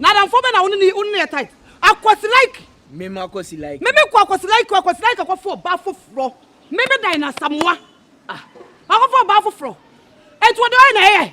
N'adamfo bɛn na wo ne ne wo ne ne yɛ tight? Akwasi like. Meme akwasi like. Meme kɔ akwasi like akwasi like akɔfo ɔbaa foforɔ. Meme dan na samoa. Ah. Akɔfo ɔbaa foforɔ. Etu ɔde ɔyɛ na ɛyɛ.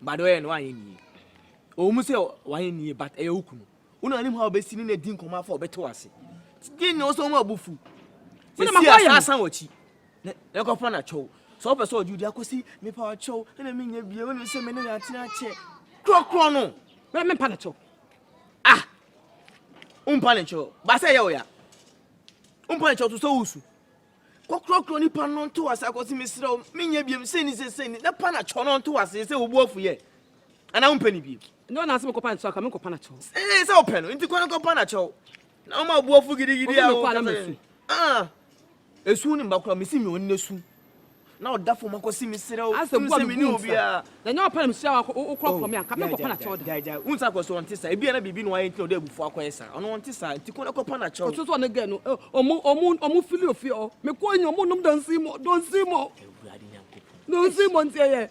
But ɔyɛ no wanyɛ ne yie. Ɛwɔ mu sɛ wanyɛ ne yie but ɛyɛ wo kunu. Wo na wonim how wobɛsi ne no adi nkɔmmɔ afa ɔbɛte w'ase. Gye nyɛ wo sɛ ɔma ɔbo fu. Sɛsi a saa san w'akyi na ɛkɔfa no akyɛw. Sɛ wopɛ sɛ ɔgye wo di akɔsi mepa wo kyɛw ɛna menyɛ bie wonim sɛ me ne yɛ atena akyɛ. Korɔkorɔ no. Bɛrɛ mempa no kyɛw. Ah! Wompa ne kyɛw. Ba sɛ ɛyɛ wo ya. Wompa ne kyɛw to sɛ wosu. Kɔkrɔkrɔ nipa no nto ase akɔ se mesrɛ wo menyɛ biam sei ne sei sei ne na panakyɔ no nto ase sɛ wobu afu yɛ anaa wompɛ ne biam ne ɔna ase mekɔpa nakyɛw aka menkɔ panakyɛw ee sɛ wopɛ no nti kɔ no kɔ panakyɛw na woma obu afu gidigidi a wokasa ah esu ne mba kora mesi nyɛ ɔne su Na ɔda fam akɔsi me srɛ o. Asɛ bu a me bu nsa. Na nyɛ ɔpɛ na me sua wa wo kura kura me a nka me kɔ pa na kyɛw da. Gyae gyae. Wo nsa kɔ so ɔnte saa. Ebi a na biribi na wayɛ nti na ɔde abufuo akɔ yɛ saa. Ɔno ɔnte saa. Nti kɔ na kɔ pa na kyɛw. Ɔte sɛ ɔne girl no ɔmo ɔmo ɔmo fili ofie hɔ. Me kɔ nyi ɔmo nom don't see more don't see more. Awurade Nyankopɔn. Don't see more nti ɛyɛ.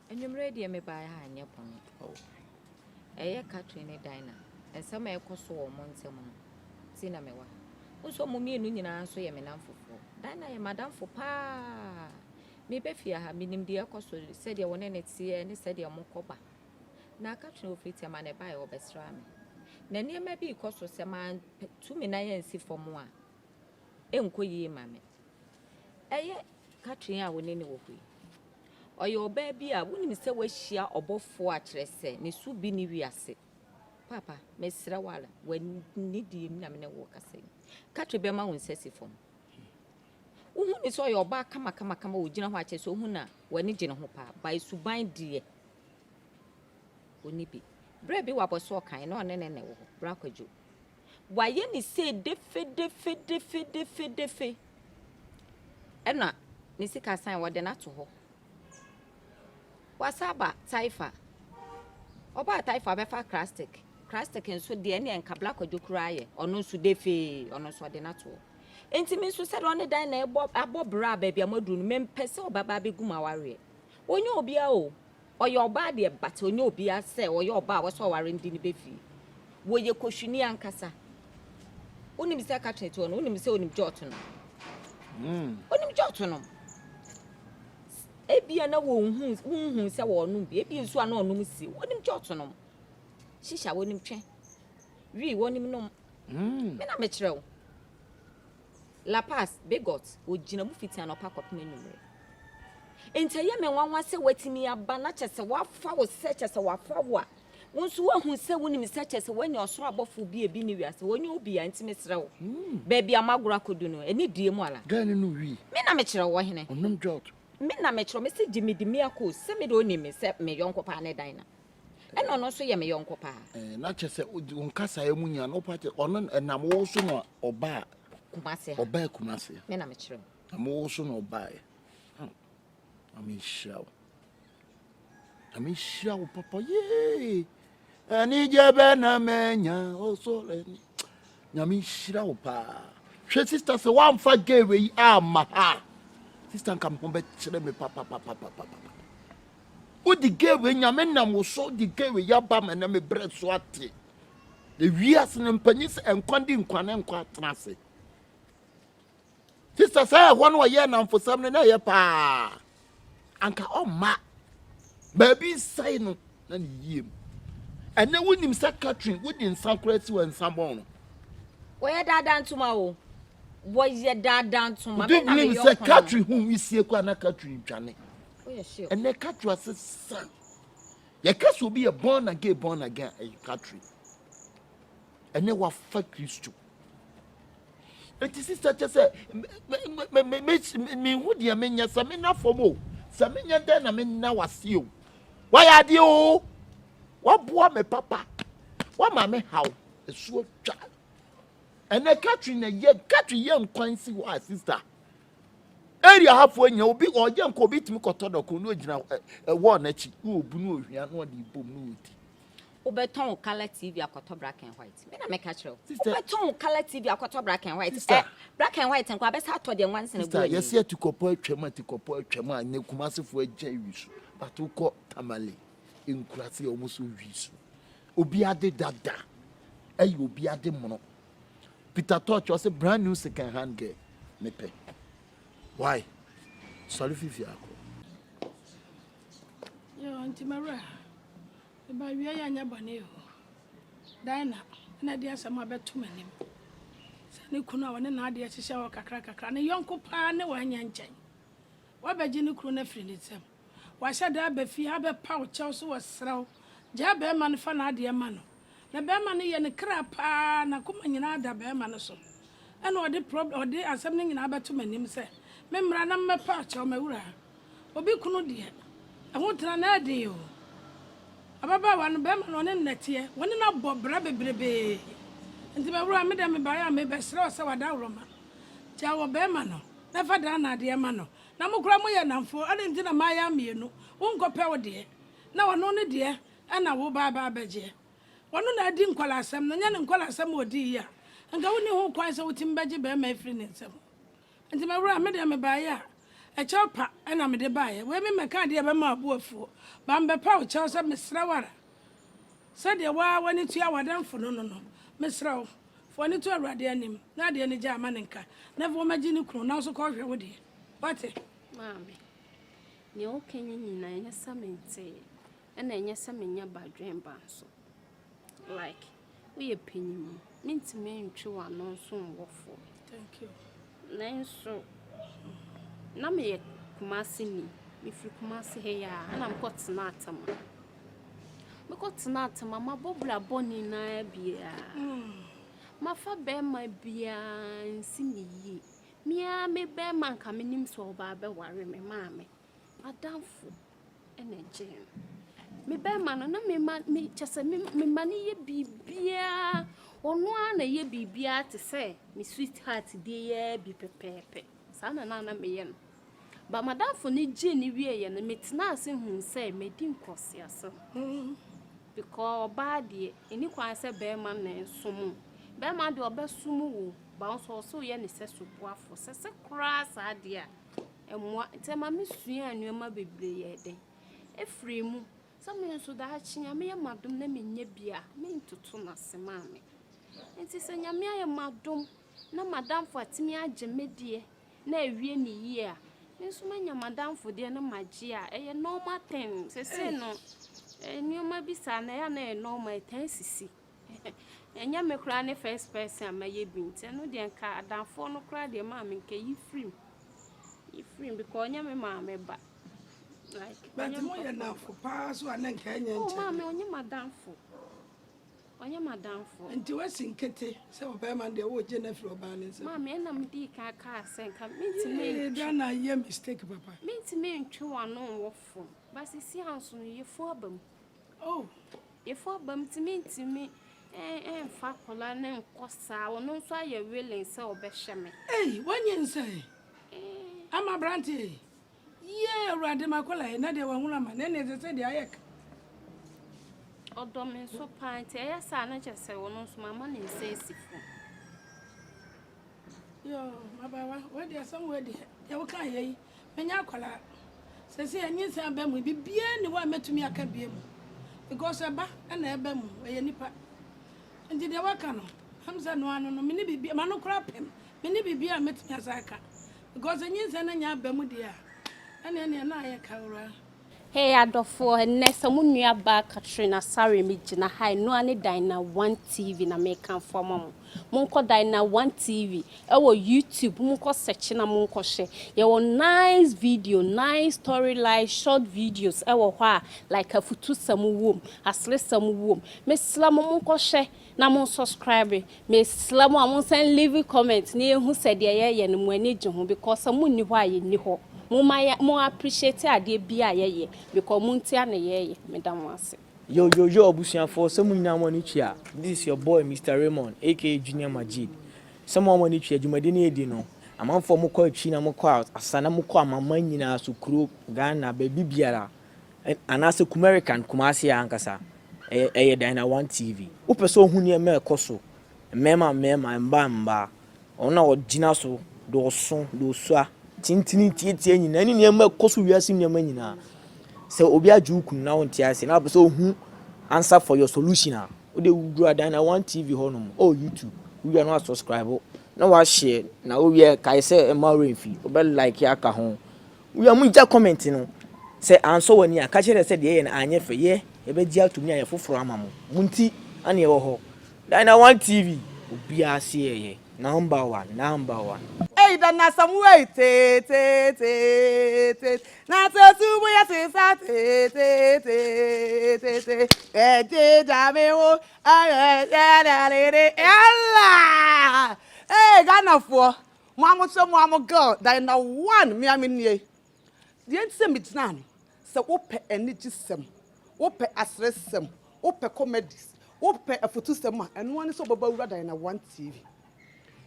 Anwumerɛ yi deɛ mebaeɛ ha anyɛ bɔne o. Ɛyɛ Catherine ne Dinah nsɛm a ɛrekɔ so wɔ wɔn ntam no nti na mewɔ ha. Wohu sɛ wɔn mmienu nyinaa nso yɛ me nnamfofoɔ. Dinah yɛ m'adamfo pa ara. Mereba fie ha, menim deɛ ɛrekɔ so, sɛdeɛ wo ne no teɛ ne sɛdeɛ mokɔ ba. Na Catherine ɔfiri Tema na ɛbaeɛ, ɔbɛsraa me. Na nneɛma bi rekɔ so, sɛ mantu me nan ansi fam a, ɛrenkɔ yie mma me. Ɛyɛ Catherine a wo ne no wɔ hɔ yi, Ɔyɛ ɔbaa bi a wonim sɛ wahyia ɔbɔfoɔ a kyerɛ sɛ ne so bi ne wiase. Paapa, mesrɛ wo ara, w'ani deɛ mu na me ne wo rekasa yi. Katri bɛma wo nsa si fam. Wohu ne sɛ ɔyɛ ɔbaa kamakamakama a ɔgyina hɔ a kyerɛ sɛ wohu no a, w'ani gye ne ho paa. By suban deɛ, ɔnni bi. Berɛ bi wabɔ so ɔkan na ɔne ne nɛ wɔ hɔ, Bra Kwadwo. Wayɛ ne sei defedefedefedefedefe. Ɛna ne sika san, wɔde no ato hɔ. Wasan aba Taifa. Ɔbaa Taifa, ɔbɛfa Krastik. Krastik nso deɛ, ɛnneɛ nka Bla Kwadwo koraa yɛ, ɔno nso defee, ɔno nso wɔde no ato hɔ. Enti me nso sɛdeɛ ɔne Dan na ɛbɔ, abɔ bra baabi a moaduru no, mempɛ sɛ ɔbɛba abɛgu m'awareɛ. Ɔnyɛ obiara o. Ɔyɛ ɔbaa deɛ but ɔnyɛ obia sɛ ɔyɛ ɔbaa wɔsɛ ɔware no di ne bɛ fie wɔyɛ kohwini ankasa wonim sɛ catherine toɔ no wonim sɛ onim jot no mm. onim jot no ebia na wɔnhu wonhu sɛ wɔnom bi ebia nsu a na ɔnom si wonim jot nom shisha wonim twɛ wii wonim nom mm. me na mekyerɛ wo La Paz, Bigot, Ogyina mu fiti anɔpa kɔpem anwummere. Enti ɛyɛ me nwanwa sɛ watumi aba na kyerɛ sɛ wafa wo sɛ kyerɛ sɛ wafa wo a, wo nso woahu sɛ wonim sɛ kyerɛ sɛ woanya ɔsoro abɔfo bi a ebi nni wiase hɔ, ɔnyɛ obi a, enti mesrɛ wo, baabi a moagoro akodu no, ɛne due mu ara. Dɛn ne no wii? Me na mekyerɛ wo, ɔhene. Ɔnom dwot. Me na mekyerɛ wo, mese gye me di me akɔ o, sɛ me deɛ ɔnim me sɛ me yɔnko paa ne Dinah. Ɛna ɔno nso yɛ me yɔnko paa. Ɛɛ na kyɛ sɛ odi wɔn kasaeɛ mu nya na ɔpa kyɛ ɔno ɛnam wo so na ɔbaa. Kumase ha. Ɔbaa Kumase. Me na mekyerɛ wo. Ɛnam wo so na ɔbaaeɛ. Hmm. Na menhyira wo. Na menhyira wo papa yee. Anigye bɛ na manya ɔsɔre ni. Na menhyira wo paa. Hwɛ sista sɛ woamfa gay wei amma ha. Sista nka me ho bɛkyerɛ me papapapapapa. Wo de Gary nyame nam wo so de Gary yaba me na me brɛ so ate. Na wiase no mpanyin sɛ nkwa di nkwa ne nkwa atena ase. Sista sɛ ɛhɔ no ɔyɛ namfosɛm no na ɛyɛ paa. Anka ɔmma baabi nsɛe no na ne yie mu. Ɛnɛ wonim sɛ Catherine wode nsa koraa si wɔ nsa bɔn no. Wɔyɛ daadaa ntoma o. Wɔyɛ daadaa ntoma. Would you believe sɛ Catherine ho wisie koraa na Catherine dwane. ɛnɛ ɛkatri ase sa yɛka sɛ obi yɛ born again born again a ɛyɛ katri ɛnɛ wafa kristo eti sista kyɛ sɛ mehu deɛ menyɛ sɛ mena fam o sɛ menyɛ dɛn na mena wase o wayɛ adeɛ o waboa me papa wama me haw ɛsoɔ twa ɛnɛ katri na yɛ katri yɛ nkwan si hɔ a sista Area ha fo enya obi ɔyɛ nka obi tumi kɔtɔ dɔko na ogyina ɛwɔ n'akyi na obu na ohwia na ɔde bom na odi. Wobɛtɔn wo color TV akɔtɔ black and white. Me na meka kyerɛ wo. Wobɛtɔn wo color TV akɔtɔ black and white. Ɛ black and white nko abɛsa atɔ deɛ nwansena gu ani. Yɛsi atikɔpɔ atwam atikɔpɔ atwam a ne Kumasefo agya wi so. But wokɔ Tamale nkurase a wɔn so wi so. Obi ade dada ɛyɛ obi ade mono. Peter Tosh ɔse brand new second hand girl mepɛ. Why? Sɔre fi fie akɔ. Yo nti mawura. Eba wia ya nya bɔne o. Dina na de asɛm abɛto m'anim. Sɛ ne kunu a wɔne n'adeɛ hyehyɛ hɔ kakra kakra ne yɔnko paa ne wɔanya nkyɛn. Wabɛgye ne kunu no afiri ne nsam. Wahyɛ da aba fie abɛpa wo kyɛw so wɔsrɛ wo gyaa bɛɛma no fa n'adeɛ ma no na bɛɛma no yɛ ne kra paa n'akoma nyinaa da bɛɛma no so ɛna ɔde prob ɔde asɛm no nyinaa bɛto m'anim sɛ me mmra na mmɛpa wo kyɛw m'awuraa obi kunu deɛ ɛho tena no ɛden oo ababaawa no bɛɛma no ɔne no nɛteɛ wɔne no abɔ bra bebrebee nti m'awuraa me deɛ mebaeɛ a mebɛsrɛ wo sɛ w'adaworoma gyaa wɔ bɛɛma no na fa daa n'adeɛ ma no Na mo koraa moyɛ nnamfo, adɛn nti na moayam mmienu? Wonkɔpɛ wo deɛ, na ɔno ne deɛ na wo ba aba abɛgyeɛ. Ɔno na adi nkwadaa-sɛm no, nyɛ ne nkwadaa-sɛm a ɔdii yi a, anka wonni ho kwan sɛ wotumi bɛgye barima afiri ne nsam. Enti me wura, me deɛ mebaeɛ a, ɛkyɛw pa na mede baeɛ. Wei memmɛkaa adeɛ a ɛbɛma wo bo afuo, baa mebɛpa wo kyɛw sɛ mesrɛ wo ara, sɛdeɛ wo ara w'ani tua w'adamfo no no no, mesrɛ wo, Fa w'ani to Awurade anim, na adeɛ no gyae ma no nka, na afei ɔma gye ne kunu, nanso kɔ hwɛ wo deɛ. Woate? Maame, nea woka yi nyinaa ɛnyɛ sɛ mentee, ɛna ɛnyɛ sɛ menyɛ badwemba nso. Like, woyɛ panyin, mentumi ntwe w'ano nso nwɔ fo. Thank you. Nanso na meyɛ Kumaseni. Mefiri Kumase ha yi a, ɛnna mekɔtenaa Tema. Mekɔtenaa Tema, mabɔ bra bɔne no ara biara. Mafa barima biara ansi me yie. Me ara me barima a anka menim sɛ ɔbaa bɛware me, maame, Adamfo na ɛgyee no. Me bɛrima no, na me ma me kyɛ sɛ me me ma no yɛ biribiara. Ɔno ara na ɛyɛ biribiara te sɛ me sweetheart deɛ yɛ bi pɛpɛɛpɛ. Saa na na na meyɛ no. Ba m'adamfo no gyee no wieeɛ no, metenaa ase huu sɛ madi nkwaseasɛm. Hmm. Because ɔbaa deɛ, ɛni kwan sɛ bɛrima na ɛnsom o. Bɛrima deɛ ɔbɛsom wo, ba wo so ɔsɛ woyɛ ne sɛ soboafoɔ. Sɛ sɛ koraa saa deɛ a. Mmoa nti ɛma me suaa nnoɔma bebree yɛ dɛ ɛfiri mu sɛ me nso daakye nyame yɛ m'adom na me nya bi a me ntoto no ase maame nti sɛ nyame ayɛ m'adom na m'adamfo atumi agye me deɛ na awie ne yie a me nso manya m'adamfo deɛ na magye a ɛyɛ normal thing sɛsei no nnoɔma bi saa na ɛyɛ a na ɛyɛ normal ɛtaa sisi Ɛnyɛ me koraa ne first person a mayɛ bi nti ɛno deɛ nka adamfoɔ no koraa deɛ maa me nka yi firi mu yi firi mu because ɔnyɛ me maame ba like ɔnyɛ Bɛnti me mo yɛ papa ba. nafo paa so a na nka ɛnyɛ Oh maame nkyɛn. ɔnyɛ m'adamfo ɔnyɛ m'adamfo. Nti wasi nkete sɛ ɔbɛɛma no deɛ wo gye no afiri ɔbaa no nsam. Maame ɛna me dii kan kaa sɛ nka mentumi Yee ntwe Ghana ayɛ mistake papa. mentumi ntwe w'ano nwɔ fam but seesei anso no yɛfu aba mu Oh yefo aba mu ti mintumi ɛnfa akwadaa no nkɔ saa ɔno nso ayɛ willing sɛ ɔbɛhyɛ me. Ei wanyɛ nsa ɛ eh. ama aberanteɛ yi yie awurade ma akwadaa yi na deɛ wahunu ama na ɛna ɛsɛ sɛ deɛ ayɛ ka. ɔdɔ me nso paa nti ɛyɛ saa na kyɛ sɛ ɔno nso mama ne nsa esi fam. yoo mabaawa wei deɛ asɛm wei deɛ deɛ woka yɛ yi Manyɛ akwadaa. Seesei anyinsɛn aba mu. Biribiara nni hɔ a mɛtumi aka biom because ɛba na ɛba mu. Ɛyɛ nnipa. Nti deɛ waka no, ɛm sɛ ɛno ara no no. Menni biribi, m'ano koraa pem. Menni biribiara a mɛtumi asan aka because anyinsɛn no nyɛ aba mu deɛ a, ɛnneɛ neɛ na ayɛ kawuraa. Hey adɔfoɔ, ɛnnɛ sɛ mo nua baa Catherine Asare me gyina ha yi, noa ne Dina One TV na me kanfo ama mo. Mo nkɔ Dina One TV ɛwɔ YouTube, mo nkɔ search na mo nkɔ hwɛ. Yɛwɔ nice video, nice story line, short videos ɛwɔ hɔ a like afutusɛm wom, aseresɛm wom. Me srɛ mo mo nkɔ hwɛ. na mo subscribe mesrɛ mo a mo nsan leave comment na yɛhu sɛ deɛ yɛyɛ no mo ani gye ho because sɛ mo nni hɔ a yɛnni hɔ momma yɛ mo appreciate adeɛ biara a yɛyɛ because mo ntia na yɛyɛ meda mo ase. Yo yo yo abusuafoɔ sɛ mo nyinaa mo ani twe a this is your boy Mister Raymond aka Junior Majid sɛ mo a mo ani twe a dwumadi no yɛdi no amanfoɔ mo kɔ akyiri na mo kɔ out asa na mo kɔ amanman nyinaa so kuro Ghana baabi biara anaasɛ Kumerican, Kumasi ha ankasa, ɛyɛ, ɛyɛ Dyna One TV. Wopɛ sɛ wohu nneɛma a ɛkɔ so, mmarima mmarima, mmaa mmaa, wɔn a wɔgyina so de wɔso, de wɔsua, tintini, tiatia nyinaa, ne nneɛma a ɛkɔ so wiase nneɛma nyinaa. Sɛ obi agye wo kunu na wonte ase, na wopɛ sɛ wohu answer for your solution a, wode wura Dyna One TV hɔ nom, ɔ YouTube, wowia no asubscribe, na wahyɛ, na wowie kae sɛ mma wo werɛ mfi, wobɛ like aka ho, Wura mu gya comment no sɛ ansɔ wani a ka kyerɛ dɛ sɛ deɛ yɛyɛ no anyɛ fɛ yɛ yɛbɛgye atom ne ayɛ foforɔ ama mo mo nti na yɛwɔ hɔ Dina one TV obiara se yɛyɛ number one number one. Ei da na sɛm wo ei teeteeteeteetee na sɛ su mu yɛ te saa teeteeteeteetee ɛgye gya me ho ɛyɛ yɛɛdɛɛdede yɛla ee Ghanafoɔ. Mo a mosɛ mo a mo girl Diana one me a me nie Deɛ nti sɛ megyinaa no Sɛ wopɛ anigyesɛm Wopɛ aseresɛm Wopɛ comedies Wopɛ afutusɛm a Ɛno ara ne sɛ wobɛba Wura Diana one TV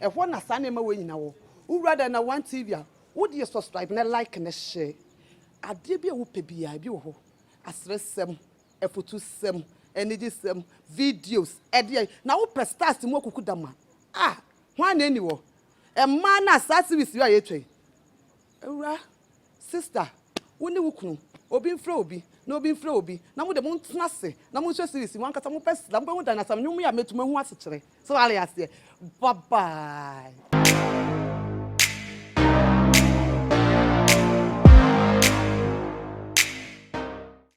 Ɛhɔ na saa nneɛma wei nyinaa wɔ Wowura Diana one TV a Wodeɛ subscribe ne like ne share Adeɛ bi a wopɛ biara ebi wɔ hɔ Aseresɛm Afutusɛm Anigyesɛm Videos Ɛdeɛn Na wopɛ stars mu akukudam a Ah Hwan na enni hɔ? Mmaa no a saa series yi a yɛretwa yi, awuraa, sister, wo ne wo kunu, obi mfrɛ obi, na obi mfrɛ obi, na mo de montena ase na monhwɛ series yi, mo ankasa mobɛ sra, mobɛhu Danasam nnwom yi a matumi ahu asekyerɛ. So ware aseɛ? Bye bye.